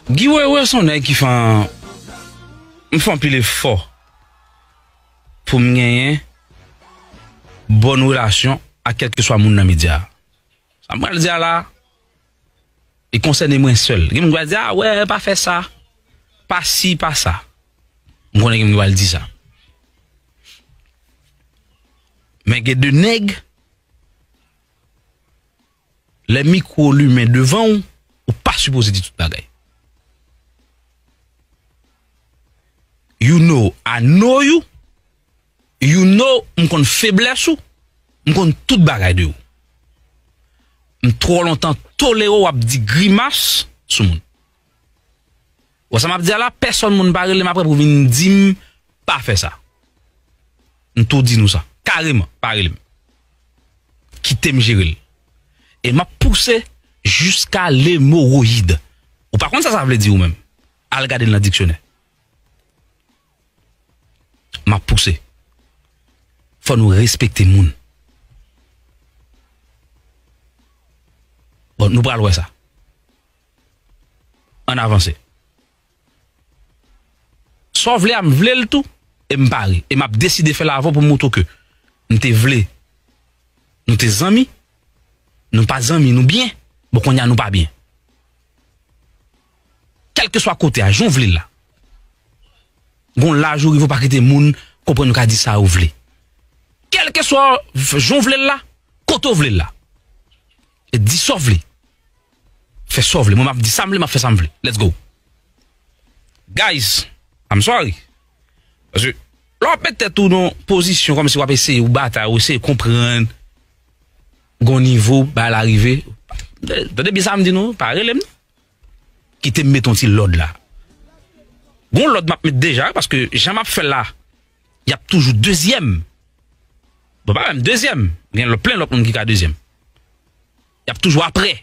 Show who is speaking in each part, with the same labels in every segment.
Speaker 1: Guy wewe son nèg ki fè m fè anpil efò pou m genyen bòn relasyon ak kèlkeswa moun nan medya sa m pral di a la li konsène mwen sèl gen moun ki pral di a wè pa fè sa pa si pa sa m konnen gen moun ki pral di sa men gen de nèg Lè mikwo w limen devan w, ou pa sipoze di tout bagay. You know I know you, you know m konn feblès ou, m konn tout bagay de ou. M twò lontan tolere w ap di grimas sou moun. Bon sa map di a la pèsòn moun pa relem aprè pou vin dim pa fè sa m tou di nou sa kareman pa relem kitem jerel e map pouse jiska lemoroyid ou pa konn sa sa vle di ou menm al gadel nan diksyonè map pouse fò nou respekte moun bon nou pral wè sa. Ann avanse. Sa w vle a m vle l tou e m pare e m ap deside fè l avè w pou m moutre w ke m te vle nou te zanmi, nou pa zanmi, nou byen, bon kounye a nou pa byen. Kèlkeswa kote a, jan w vle l la. Gon laj ou rive ou pa kite moun konprann ou ka di sa ou vle. Kèlkeswa jan w vle l la, kote w vle l la. Di sa w vle. Fè sa w vle. Mwen map di sa m vle, map fè sa m vle. Let's go. Guys, I'm sorry. Paske, lè wap met tèt ou nan pozisyon kòm si wap eseye ou batay, ou eseye konprann gon nivo bagay la rive. Tande byen sa m di nou, pa rele m. Kite m met yon ti lòd la. Gon lòd map met deja, paske jan map fè la, yap toujou dezyèm. Bon pa menm dezyèm, gen lòt plen lòt moun ki ka dezyèm. Yap toujou aprè.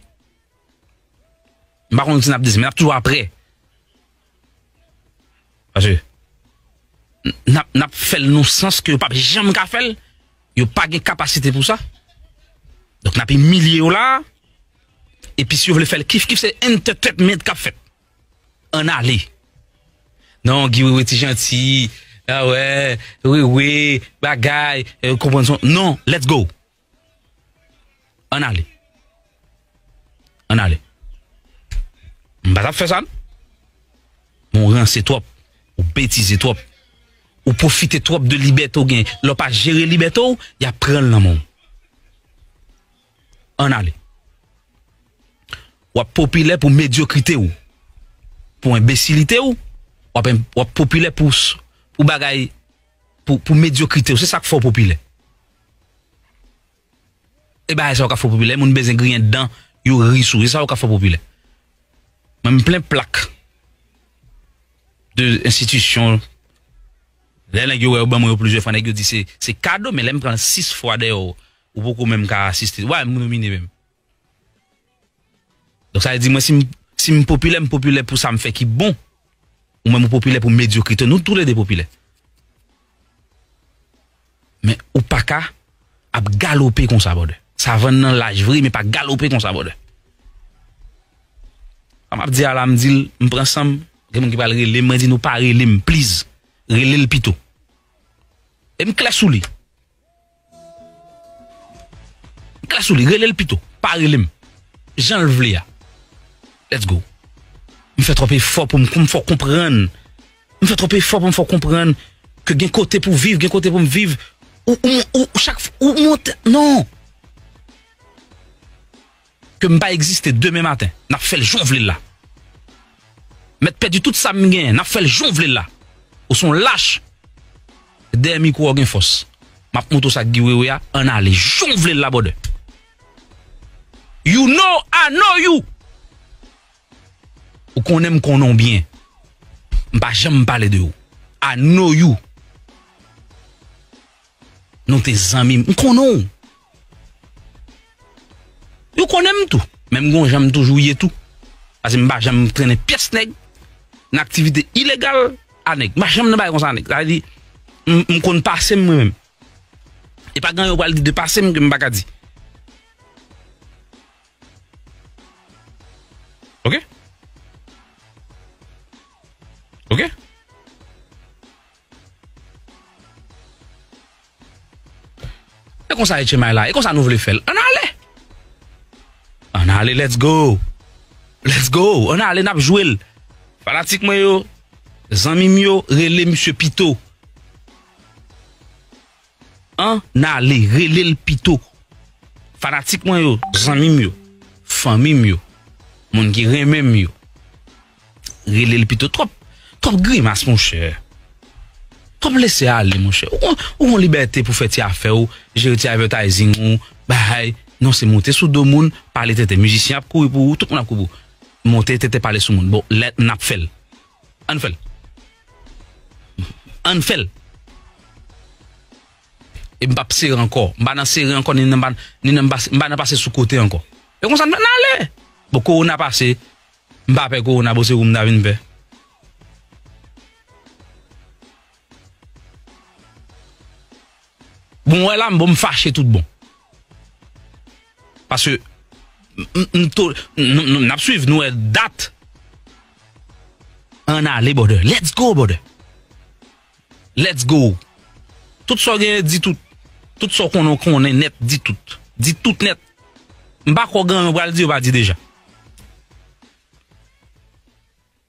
Speaker 1: M pa konn si nap di men nap toujou aprè. Pase nap fèl nou sans ke yo pap janm ka fèl. Yo pa gen kapasite pou sa. Donk nap imilye yo la. E pi si yo vle fèl kif kif se entetenment kap fèt. An ale. Non Guy Wewe ti janti. A wè. Wewe. Bagay. Ou konprann son. Non. Let's go. Ann ale. Ann ale. M pa t ap fè sa. Men w ranse twòp. Ou betize twòp. Ou pwofite twòp de libète w gen. Lè w pa jere libète w, y ap pran l nan men w. Ann ale. W ap popilè pou medyokrite w. Pou enbesilite w. W ap popilè pou bagay, pou medyokrite w. Se sa k fè w popilè. E bagay sa yo ka fè w popilè, moun bezwen griyen dan, yo ri sou ou, e sa yo ka fè w popilè. Mwen m plen plak de enstitisyon, lè nèg yo wè yo ban mwen yo plizyè fwa, nèg yo di se kado, men lè m pran 6 fwa deyò, ou poko menm ka asiste, ou pa menm nomine menm. Donk sa vle di mwen si m si m popilè m popilè pou sa m fè ki bon ou menm ou popilè pou medyokrite nou tou le 2 popilè men ou pa ka ap galope konsa brother savann nan laj vre men pa galope konsa brother sa m ap di a la m di l m pran san m gen moun ki pral rele m mwen di nou pa rele m please rele l pito e m klè sou li. Gras ou li relel pito pa relem janl vle a let's go. M fè twòp efò pou m m fè w konprann m fè twòp efò pou m fè w konprann ke gen kote pou viv gen kote pou m viv ou ou chak ou monte non. ke m pa egziste demen maten n ap fè l jan w vle l la m mèt pèdi tout sa m genyen n ap fè l jan w vle l la ou s on lach dèyè mikwo w gen fòs m ap montre w sa Guy Wewe a ann ale jan w vle l la brother you know I know you ou konnen m konnen w byen m pa janm pale de ou I know you. Nou te zanmi, m konnen w. Yo konnen m tou, men m gon jan m toujou ye tou. Pase m pa janm trennen pyès nèg, nan aktivite ilegal a nèg. M pa janm nan bagay konsa a nèg. Sa vle di, m konn pase m mwen menm. E pa gen anyen w pral di de pase m ke m pa ka di. Ok? Ok? E konsa HMI la, e konsa nou vle fèl. An ale! An ale, let's go! Let's go! An ale, nap jwel. Fanatik mwen yo, zanmim yo, rele misye pito. An nale relel pito. Fanatik mwen yo zanmim yo fanmim yo moun ki renmenm yo relel pito twòp twòp grimas monchè twòp lese ale monchè ou gon libète pou fè ti afè ou jere ti avètayzing ou bay non se monte sou do moun pale tenten mizisyen ap kouri pou ou tout moun ap kouri pou ou monte tenten pale sou moun bon lè nap fèl Ann fèl. Ann fèl. E m pap sere ankò. M pa nan sere ankò ni nan m pase sou kote ankò. E konsa n ale. Bon kowona pase. M pa pè kowona bon se ou m ta vin pè. Bon wè la m bon m fache tout bon. Paske m to n ap swiv nou wè dat an ale brother let's go brother let's go tout sa w genyen di tout tout sa w konnen w konnen nèt di tout di tout nèt m pa kwè w gen anyen w pral di yo pa di deja.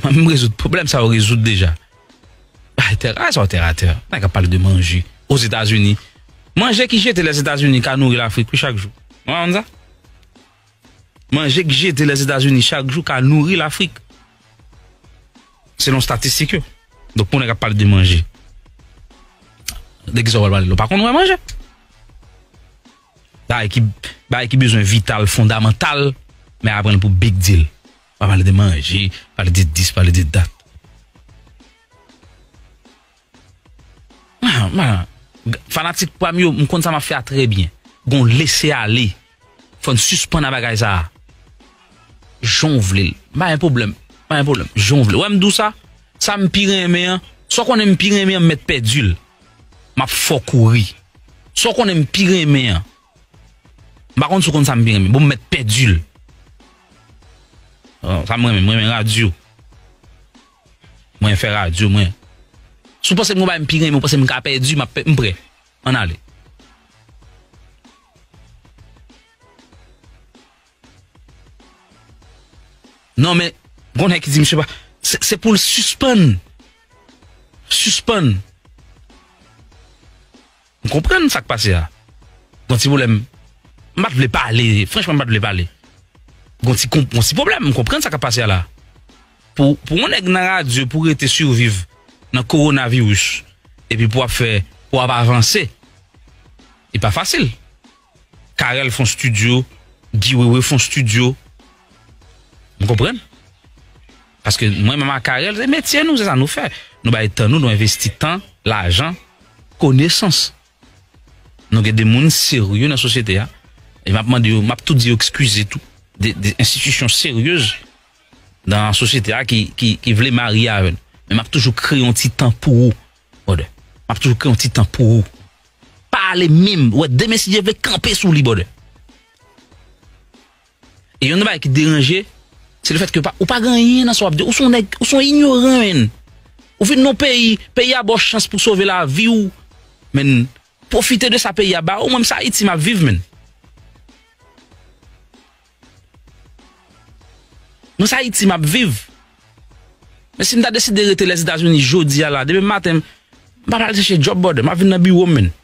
Speaker 1: Mwen menm rezoud pwoblèm sa yo rezoud deja. Bay tè a sa yo tè a tè. Nan ka pale de manje. O Zetazini. Manje ki jete le Zetazini ka nouri Lafrik wi chak jou. Mwen pa konn sa. Manje ki jete le Zetazini chak jou ka nouri Lafrik. Selon statistik yo. Donk pou nèg ap pale de manje. De ki sa wap pale la. Ou pa konn wè manje. Bay ki bay ki bezwen vital fondamantal men aprann pou big deal. Pa pale de manje, pale de dis, pale de dat. Mwen, mwen, fanatik pwa m yo, m konn sa m ap fè a trè byen. Gon lese ale. Fò n sispann a bagay sa a. Jan w vle l. M pa gen pwoblèm. M pa gen pwoblèm. Jan w vle. Ou wè m di w sa? Sa m pi renmen an, sa w konnen m pi renmen an m mèt pèdi l. M ap fè w kouri. Sa w konnen m pi renmen an, M pa konn si w konn sa m pi renmen. Bon m mèt pèdi l. Sa m renmen, m renmen radyo. Mwen fè radyo mwen. Si w panse m gen yon bagay m pi renmen ou panse m ka pèdi, m prè. Ann ale. Non men, gon nèg ki di misye pa, se pou l sispann. Sispann. M konprann sak pase a Gon ti pwoblèm M pat vle pale Franchman m pat vle pale Gon ti konp Gon ti pwoblèm M konprann sa kap pase a la Pou pou yon nèg nan radyo pou rete surviv Nan korona virus Epi pou wap fè Pou wap avanse Li pa fasil Carel fon studio Guy wewe fon studio M konprann Paske mwen menm ak Arel se metye nou, se sa nou fè. Nou bay tan nou, nou envesti tan, lajan, konesans. Nou gen de moun serye nan sosyete a. E m ap mande yo, m ap tou di yo ekskize tou. De enstitisyon seryez nan sosyete a ki vle marye avè nou. Men m ap toujou kreye yon ti tan pou ou brother. M ap toujou kreye yon ti tan pou ou. Pa ale menm, wè demen si Dye vle kanpe sou li brother. E yon nan bagay ki deranje, se lefèt ke ou pa gen anyen nan sa w ap di. Ou se yon nèg, ou se yon inyoran menn. Ou vin nan yon peyi, peyi a ba w chans pou w sove lavi w menn. Pwofite de sa peyi a ba w. Mwen menm se Ayiti m ap viv menn. Mwen se Ayiti m ap viv. Men si m ta deside rete Lèzetazini jodi a la, demen maten m pa pral chèche djòb brother, m ap vin nan biwo m menn.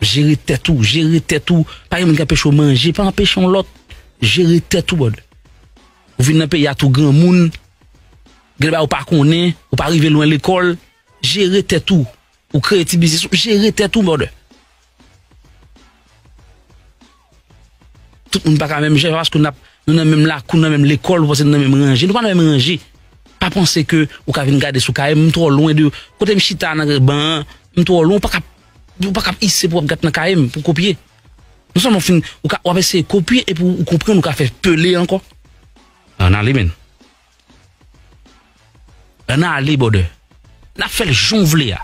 Speaker 1: Jere tèt ou, jere tèt ou, pa gen moun ki anpeche w manje, pa anpeche yon lòt, jere tèt ou brother. Ou vin nan peyi a tou granmoun, gen de bagay ou pa konnen, ou pa rive lwen lekòl, jere tèt ou, ou kreye ti biznis ou, jere tèt ou brother. Tout moun pa ka menm jan, se pa paske nou nan menm lakou, nou nan menm lekòl, nou panse nou nan menm ranje, nou pa nan menm ranje. Pa panse ke ou ka vin gade sou kay m, m twò lwen de, kote m chita nan ban an, m twò lwen, ou pa ka ap ise pou ap gate nan kay m pou kopye. Non sèlman ou fin, w ap eseye kopye epi ou konprann ou ka fè pele ankò. Nan li menn. An na ale bòdè. N ap fè l jan w vle a.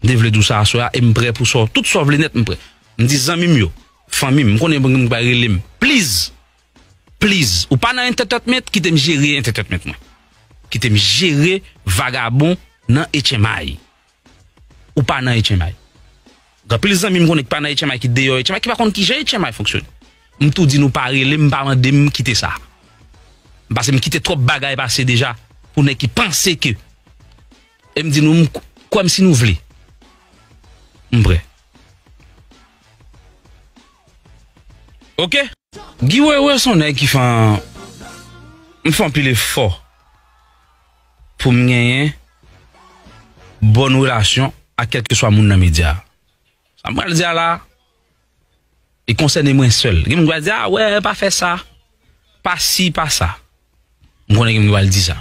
Speaker 1: M te vle di w sa aswè a e m prè pou sa w. Tout sa w vle nèt m prè. M di zanmi m yo, fanmi m, m konnen gen moun ki pral rele m. Pliz! Pliz! Ou pa nan entètètment, kite m jere entètètment mwen. Kite m jere vagabon nan etchemay. ou pa nan etchenmay. Gen anpil zanmi m konnen ki pa nan etchenmay ki deyò etchenmay ki pa konn kijan etchenmay fonksyone. M tou di nou pa rele m pa mande m kite sa. Pase m kite twòp bagay pase deja pou nèg ki panse ke e m di nou m kwè m si nou vle. M prè. Ok. Guy Wewe son nèg ki fè m fè anpil efò. pou m genyen bòn relasyon ak kèlkeswa moun nan medya a. Sa m pral di a la a, li konsène mwen sèl. Gen moun ki pral di, a wè, pa fè sa, pa si, pa sa. M konnen gen moun ki pral di sa.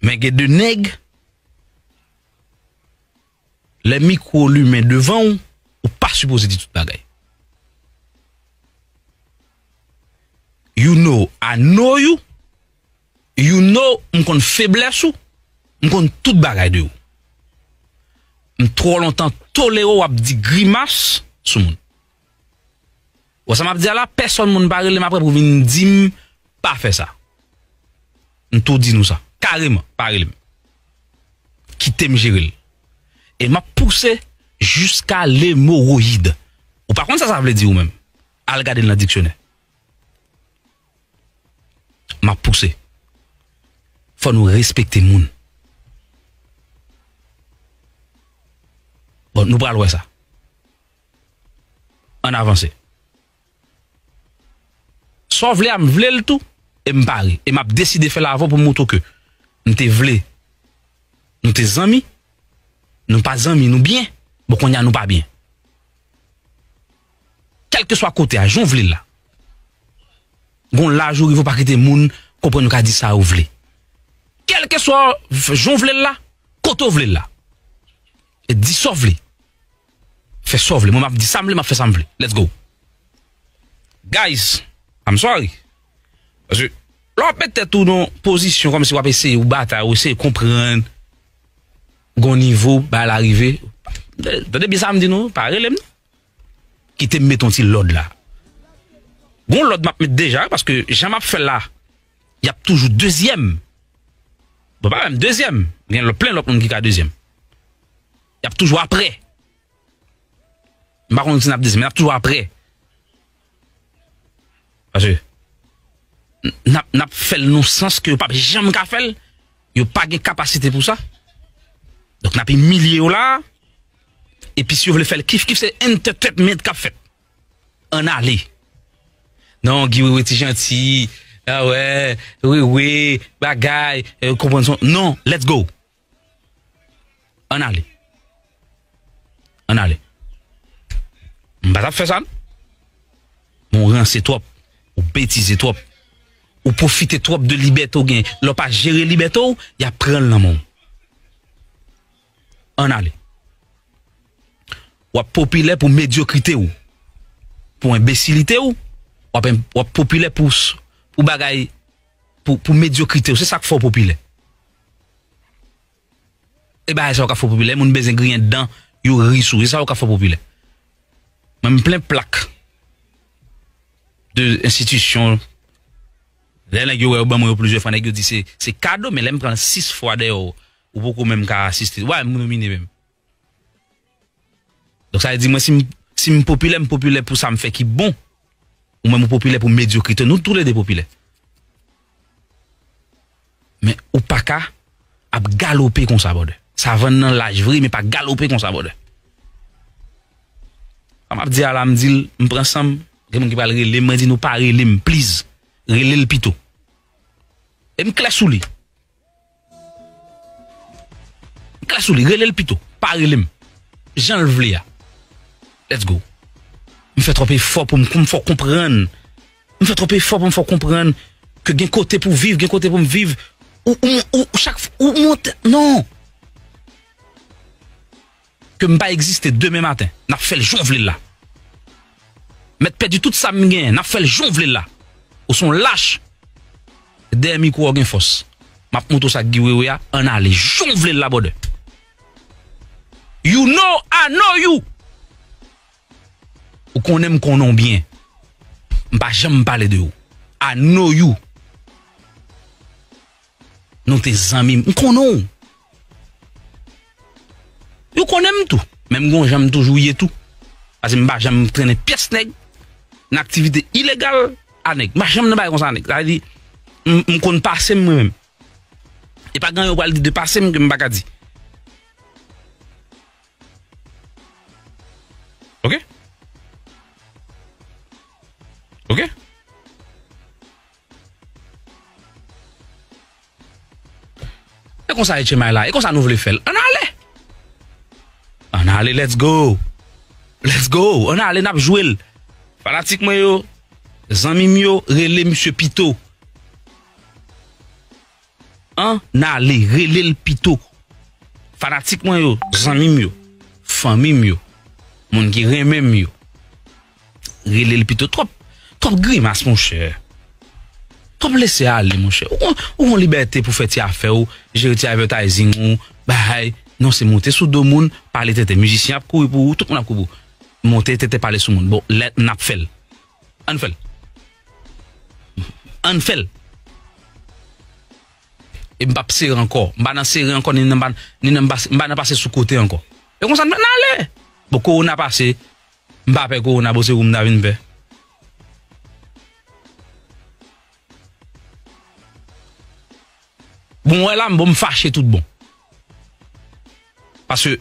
Speaker 1: Men gen de nèg. Lè mikwo w limen devan w, ou pa sipoze di tout bagay. You know I know you, you know m konn feblès ou, m konn tout bagay de ou. M twò lontan tolere w ap di grimas sou moun. Bon sa map di a la pèsòn moun pa relem aprè pou vin dim pa fè sa m tou di nou sa kareman pa relem kitem jerel e map pouse jiska lemoroyid ou pa konn sa sa vle di ou menm al gade l nan diksyonè map pouse fò nou respekte moun bon nou pral wè sa. Ann avanse. Sa w vle a m vle l tou e m pare e m ap deside fè l avè w pou m montre w ke m te vle nou te zanmi, nou pa zanmi nou byen, bon kounya nou pa byen. Kèlkeswa kote a, jan w vle l la. Gon laj ou rive ou pa kite moun konprann ou ka di sa ou vle. Kèlkeswa jan w vle l la, kote w vle l la. Di sa w vle. Fè sa w vle. Mwen map di sa m vle, map fè sa m vle. Let's go. Guys, I'm sorry. Paske, lè wap met tèt ou nan pozisyon kòm si wap eseye ou batay, ou eseye konprann gon nivo bagay la rive. Tande byen sa m di nou, pa rele m non. Kite m met yon ti lòd la. Gon lòd map met deja, paske jan map fè la, yap toujou dezyèm. Bon pa menm dezyèm, gen lòt plen lòt moun ki ka dezyèm. Y ap toujou aprè. M pa konn si n ap di sa men y ap toujou aprè. Paske n ap fè l nan sans ke yo pap janm ka fè l. Yo pa gen kapasite pou sa. Donk n ap imilye yo la a. Epi si yo vle fè l kif kif se entetenment k ap fèt. Ann ale. Non Guy Wewe ti janti. Awè. Wewe. Bagay. Ou konprann sa. Non. Let's go. An ale. An ale. M pa tap fè sa non. Ou ranse twòp. Ou betize twòp. Ou pwofite twòp de libète ou gen. Lè w pa jere libète ou, y ap pran l nan men w. An ale. W ap popilè pou medyokrite ou. Pou enbesilite ou. W ap popilè pou bagay, pou medyokrite ou. Se sa k fè w popilè. E bagay sa yo ka fò popilè, moun bezwen griyen dan, yo ri sou, e sa yo ka fò popilè. Mwen m plen plak de enstitisyon, lè nèg yo wè yo ban mwen yo plizyè fwa, nèg yo di se kado, men lè m pran 6 fwa deyò, ou poko menm ka asiste, ou pa menm nomine menm. Donk sa vle di mwen si m si m popilè m popilè pou sa m fè ki bon ou menm ou popilè pou medyokrite nou tou le 2 popilè men ou pa ka ap galope konsa brother savann nan laj vre men pa galope konsa brother sa m ap di a la m di l m pran san m gen moun ki pral rele m mwen di nou pa rele m pliz rele l pito e m klè sou li. M klè sou li, rele l pito, pa rele m jan l vle a. Let's go. M fè twòp efò pou m m fè w konprann, m fè twòp efò pou m fè w konprann ke gen kote pou w viv, gen kote pou m viv ou ou chak fwa ou mont non. Ke m pa egziste demen maten, n ap fè l jan w vle l la. Mèt pèdi tout sa m genyen, n ap fè l jan w vle l la. Ou se yon lach, dèyè mikwo w gen fòs. M ap montre w sa Guy Wewe a, ann ale jan w vle l la brother. You know I know you! Ou konnen m konnen w byen. M pa janm pale de ou. I know you! Nou te zanmi, m konnen w. Yo konnen m tou, men m gon jan m toujou ye tou. Pase m pa janm trennen pyès nèg, nan aktivite ilegal a nèg. M pa janm nan bagay konsa a nèg. Sa vle di, m konn pase m mwen menm. E pa gen anyen w pral di de pase m ke m pa ka di. Ok? Ok? E konsa HMI la, e konsa nou vle fèl. An ale! An ale, let's go! Let's go! An ale, nap jwel. Fanatik mwen yo, zanmim yo, rele misye pito. An nale rele l pito. Fanatik mwen yo, zanmi m yo, fanmi m yo, moun ki renmen m yo. Rele l pito. Twòp, twòp grimas monchè. Twòp lese ale monchè. Ou gon libète pou fè ti afè ou, jere ti avètayzing ou, bahay. Non se monte sou do moun, pale tenten. Mizisyen ap kouri pou ou, tout moun ap kouri pou ou. Monte tenten pale sou moun. Bon, lè n ap fè l. Ann fèl. Ann fèl. E m pap sere ankò. M pa nan sere ankò ni nan m pase sou kote ankò. E konsa n ale. Bon kowona pase. M pa pè kowona bon se ou m ta vin pè. Bon wè la m bon m fache tout bon. Paske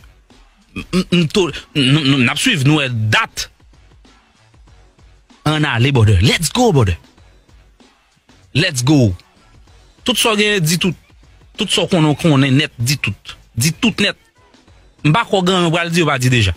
Speaker 1: m to n ap swiv nou wè dat an ale brother let's go brother let's go tout sa w genyen di tout tout sa w konnen w konnen nèt di tout di tout nèt m pa kwè w gen anyen w pral di yo pa di deja.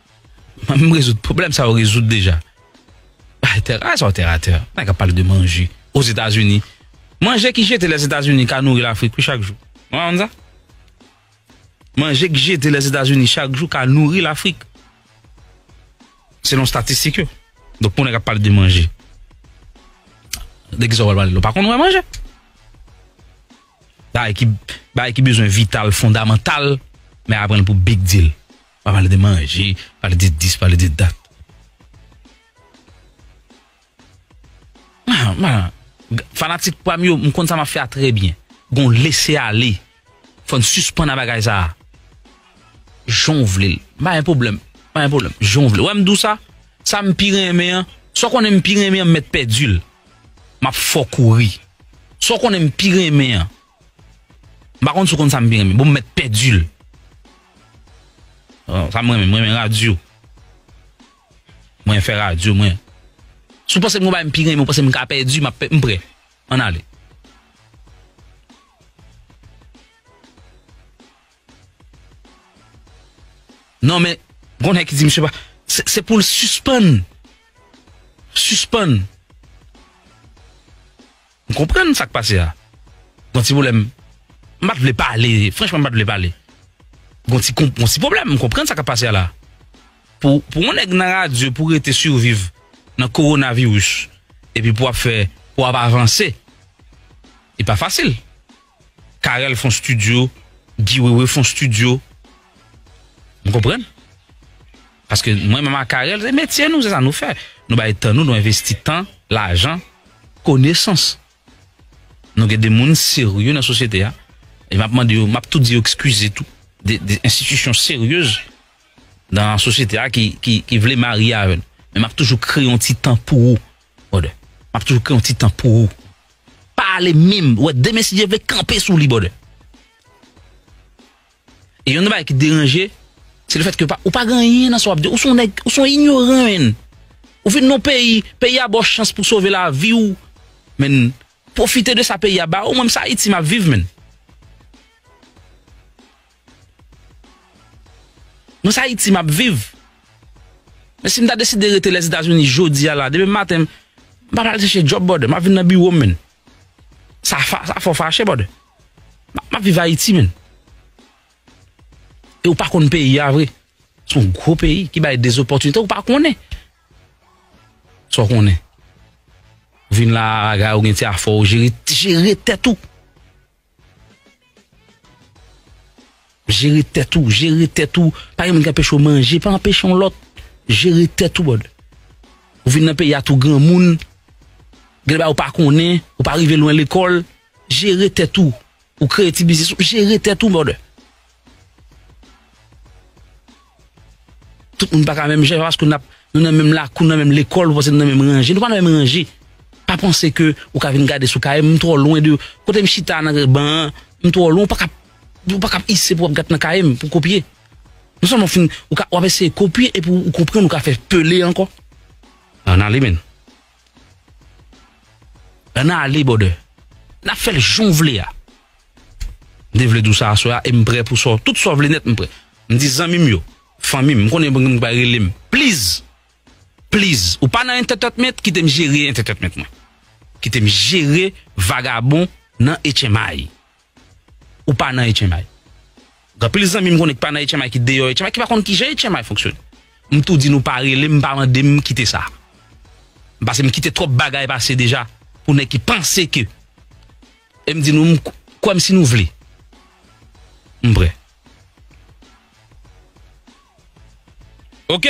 Speaker 1: Mwen menm rezoud pwoblèm sa yo rezoud deja. Bay tè a sa ou tè a tè. Nan ka pale de manje. O Zetazini. Manje ki jete le Zetazini ka nouri l'Afrik wi chak jou. Ou pa konn sa? Manje ki jete le Zetazini chak jou ka nouri l'Afrik. Selon statistik yo. Donk pou nèg ap pale de manje. De ki sa wap pale la? Ou pa konn wè manje? Bagay ki bagay ki bezwen vital fondamantal men aprann pou big deal. Pa pale de manje, pale de dis, pale de dat. Mwen, mwen, fanatik pwa m yo, m konn sa m ap fè a trè byen. Gon lese ale. Fò n sispann a bagay sa a. Jan w vle l. M pa gen pwoblèm. M pa gen pwoblèm. Jan w vle. Ou wè m di w sa? Sa m pi renmen an, sa w konnen m pi renmen an m mèt pèdi l. M ap fè w kouri. Sa w konnen m pi renmen an, M pa konn si w konn sa m pi renmen. Bon m mèt pèdi l. Bon, sa m renmen, m renmen radyo. Mwen fè radyo mwen. Si w panse m gen yon bagay m pi renmen ou panse m ka pèdi, m ap pè, m prè. Ann ale. Non men, gon nèg ki di misye pa, se pou l sispann. Sispann. M konprann sak pase a Gon ti pwoblèm M pat vle pale Franchman m pat vle pale Gon ti konp Gon ti pwoblèm M konprann sa kap pase a la Pou pou yon nèg nan radyo pou rete surviv Nan korona virus Epi pou ap fè Pou ap avanse Li pa fasil Carel fon studio Guy wewe fon studio M konprann Paske mwen menm ak Arel se metye nou, se sa nou fè. Nou bay tan nou, nou envesti tan, lajan, konesans. Nou gen de moun serye nan sosyete a. E map mande yo, map tou di yo ekskize tou. De enstitisyon seryez nan sosyete a ki vle marye avè nou. Men map toujou kreye yon ti tan pou ou brother. Map toujou kreye yon ti tan pou ou. Pa ale menm, wè demen si Dye vle kanpe sou li brother. E yon nan bagay ki deranje, se lefèt ke ou pa gen anyen nan sa w ap di. Ou se yon nèg, ou se yon inyoran menn. Ou vin nan yon peyi, peyi a ba w chans pou w sove lavi w menn. Pwofite de sa peyi a ba w. Mwen menm se Ayiti m ap viv menn. Mwen se Ayiti m ap viv. Men si m ta deside rete Lèzetazini jodi a la, demen maten m pa pral chèche djòb brother. M ap vin nan biwo m menn. Sa fa, sa fò fache brother. Map viv Haiti men. E ou pa konn peyi a vre. Son gro peyi ki bay des opportunités ou pa konnen. Sa ou konnen. Vin la a gay ou gen ti afò ou jere, jere tèt ou. Jere tèt ou, jere tèt ou, pa gen moun ki anpeche w manje, pa anpeche yon lòt, jere tèt ou brother. Ou vin nan peyi a tou granmoun, gen de bagay ou pa konnen, ou pa rive lwen lekòl, jere tèt ou, ou kreye ti biznis ou, jere tèt ou brother. Tout moun pa ka menm jan, se pa paske nou nan menm lakou, nou nan menm lekòl, nou panse nou nan menm ranje, nou pa nan menm ranje. Pa panse ke ou ka vin gade sou kay m, m twò lwen de, kote m chita nan ban an, m twò lwen, ou pa ka ap ise pou ap gate nan kay m pou kopye. Non sèlman ou fin, w ap eseye kopye epi ou konprann ou ka fè pele ankò. Nan li menn. An na ale bòdè. N ap fè l jan w vle a. M te vle di w sa aswè a e m prè pou sa w. Tout sa w vle nèt m prè. M di zanmi m yo, fanmi m, m konnen gen moun ki pral rele m. Pliz! Pliz! Ou pa nan entètètment, kite m jere entètètment mwen. Kite m jere vagabon nan etchemay. ou pa nan etchenmay. Gen anpil zanmi m konnen ki pa nan etchenmay ki deyò etchenmay ki pa konn kijan etchenmay fonksyone. M tou di nou pa rele m pa mande m kite sa. Pase m kite twòp bagay pase deja pou nèg ki panse ke e m di nou m kwè m si nou vle. M prè. Ok.